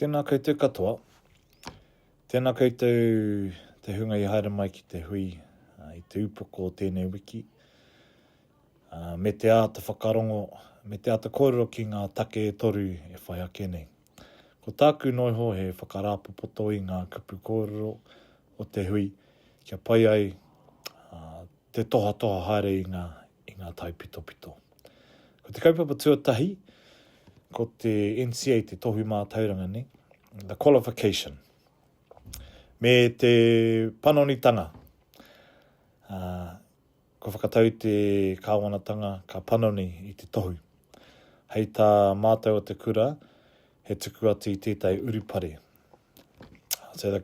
Tēnā koutou katoa. Tēnā koutou te hunga i haere mai ki te hui uh, i te upoko o tēnei wiki. Uh, me te āta whakarongo, me te āta kōrero ki ngā take e toru e whai ake nei. Ko tāku noiho he whakarāpopoto i ngā kupu kōrero o te hui, kia pai ai uh, te tohatoha haere i ngā, i ngā taipitopito. Ko te kaupapa tuatahi, ko te NCA, te tohu mātauranga nei, the qualification, me te panonitanga. Uh, ko whakatau te kāwanatanga ka panoni i te tohu. Hei tā mātou o te kura, he tuku atu i tētai urupare. So the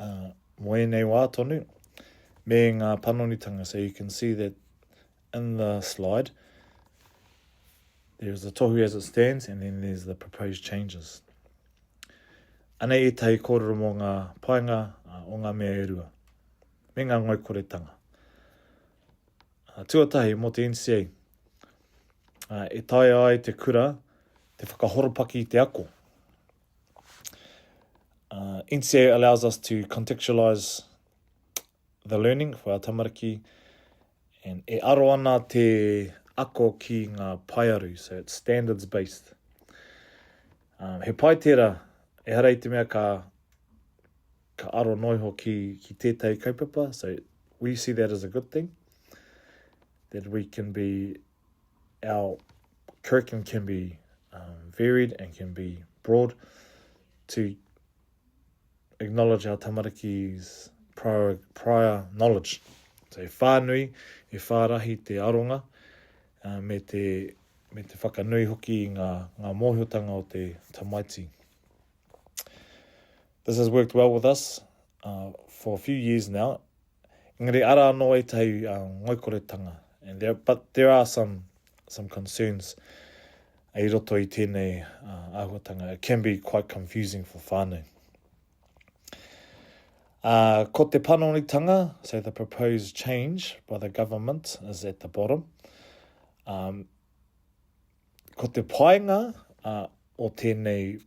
ā, mō ēnei wā tonu, me ngā panonitanga, so you can see that in the slide, there is the tohu as it stands and then there's the proposed changes. Anei ētahi kōrero mō ngā painga o ngā mea e rua, me ngā ngoikoretanga. Tuatahi mō te NCA, e taea ai te kura te whakahoropaki i te ako. Uh, NCEA allows us to contextualize the learning for our tamariki and e aro ana te ako ki ngā paearu, so it's standards based. Um, he pai tērā, e hara i te mea ka, ka aro noiho ki, ki tētahi kaupapa, so we see that as a good thing, that we can be our curriculum can be um, varied and can be broad to acknowledge our tamariki's prior, prior knowledge. So e whānui, e whārahi te aronga, uh, me, te, me te whakanui hoki i ngā, ngā mōhiotanga o te tamaiti. This has worked well with us uh, for a few years now Engari ara anō ētahi ngoikoretanga, but there are some, some concerns i roto i tēnei āhuatanga. It can be quite confusing for whānau. Uh, ko te panonitanga, so the proposed change by the government is at the bottom. Um, Ko te painga uh, o tēnei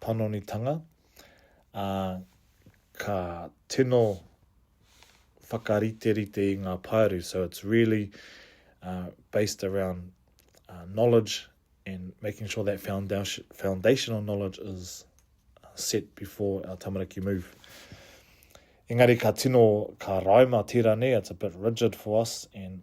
panonitanga, uh, ka tino whakariterite i ngā paeru. So it's really uh, based around uh, knowledge and making sure that foundation, foundational knowledge is uh, set before our tamariki move. Engari ka tino, ka raima tērā nei, it's a bit rigid for us and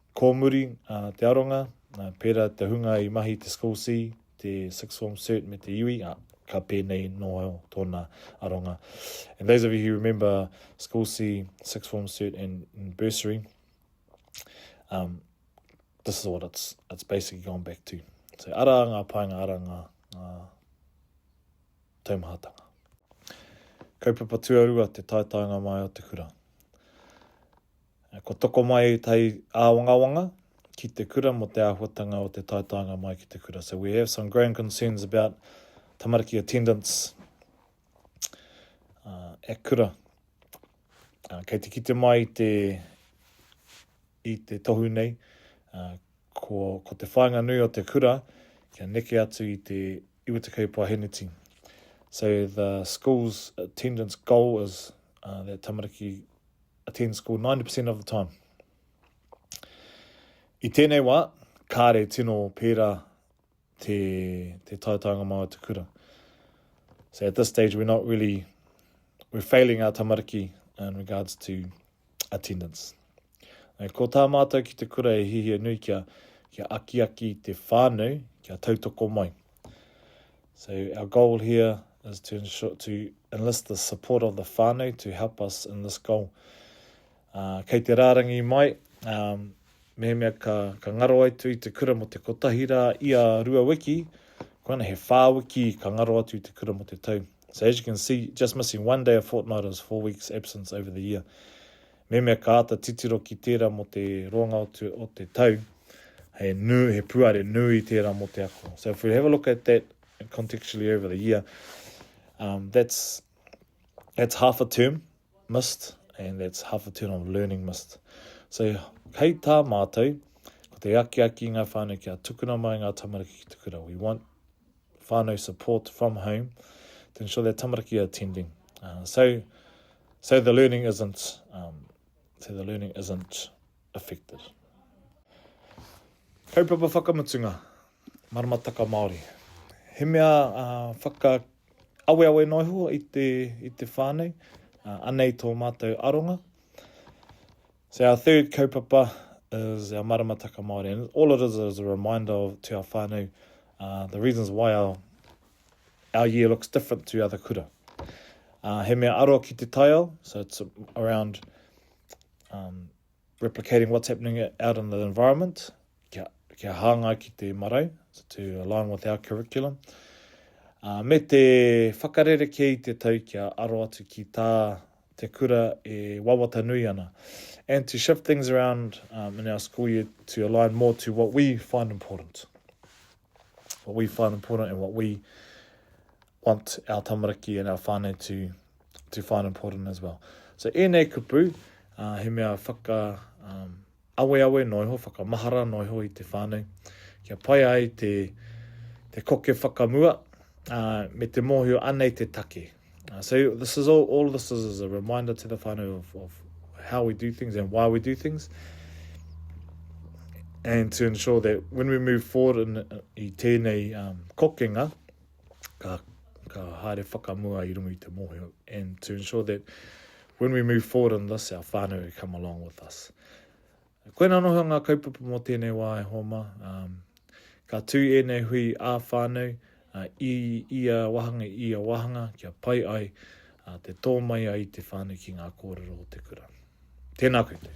Kōmuri, ā, te aronga, ā, pērā te hunga i mahi i te School C, te Sixth Form Cert me te Iwi, ā, ka pēnei nō tōna aronga. And those of you who remember School C, Sixth Form Cert and, and Bursary, um, this is what it's, it's basically gone back to. So ara ngā paenga, ara ngā, ngā taumahatanga. Kaupapa tuarua te taetaenga mai o te kura. Kua toko mai tai āwangawanga ki te kura mō te āhuatanga o te taetaenga mai ki te kura. So we have some growing concerns about tamariki attendance at kura. Kei te kite mai i te, i te tohu nei, ko, ko te whāinga nui o te kura kia neke atu i te iwa te kaupā heneti. So the school's attendance goal is uh, that tamariki attend school 90% of the time. I tēnei wā, kāre tino pērā te, te taetaunga mā o te kura. So at this stage, we're not really, we're failing our tamariki in regards to attendance. E, ko tā mātou ki te kura e hihia nui kia, kia akiaki te whānau, kia tautoko mai. So our goal here is to ensure to enlist the support of the whānau to help us in this goal. Uh, kei te rārangi mai, um, mehemea ka, ka ngaro ai tu i te kura mo te kotahi rā i a rua wiki, koana he whā wiki ka ngaro atu i te kura mo te tau. So as you can see, just missing one day a fortnight is four weeks absence over the year. Mehemea ka āta titiro ki tērā mō te roanga o te tau, he nui, he puare nui tērā mō te ako. So if we have a look at that contextually over the year, um, that's, that's half a term missed and that's half a term of learning missed. So hei tā mātou, ko te akiaki i ngā whānau kia tukuna mai ngā tamariki ki te kura. We want whānau support from home to ensure that tamariki are attending. Uh, so, so the learning isn't, um, so the learning isn't affected. Kaupapa whakamutunga, maramataka Māori. He mea uh, whaka awe awe noa hua i te, i te whānei, uh, anei tō mātou aronga. So our third kaupapa is our maramataka Māori and all it is is a reminder of to our whānau uh, the reasons why our, our year looks different to other kura. Uh, he mea aroa ki te taiao, so it's around um, replicating what's happening out in the environment, kia, kia hāngai ki te marau, so to align with our curriculum. Uh, me te whakarere kei te tau kia aro atu ki tā te kura e wawata nui ana and to shift things around um, in our school year to align more to what we find important. What we find important and what we want our tamariki and our whānau to, to find important as well. So ēnei kupu, uh, he mea whaka, um, aweawe noa iho, whakamahara noa iho i te whānau, kia pai ai te, te koke whakamua, ā, me te mōhio anei te take. Uh, so this is all, all this is, is a reminder to the whānau of, of how we do things and why we do things. And to ensure that when we move forward in, i tēnei um, kokenga, ka, ka haere whakamua i runga i te mōhio, and to ensure that when we move forward on this, our whānau will come along with us. Koina noho ngā kaupapa mō tēnei wā e hōma. Um, ka tū ēnei hui ā whānau uh, i ia wahanga, i ia wahanga, kia pai ai uh, te tō mai ai te whānau ki ngā kōrero o te kura. Tēnā koutou.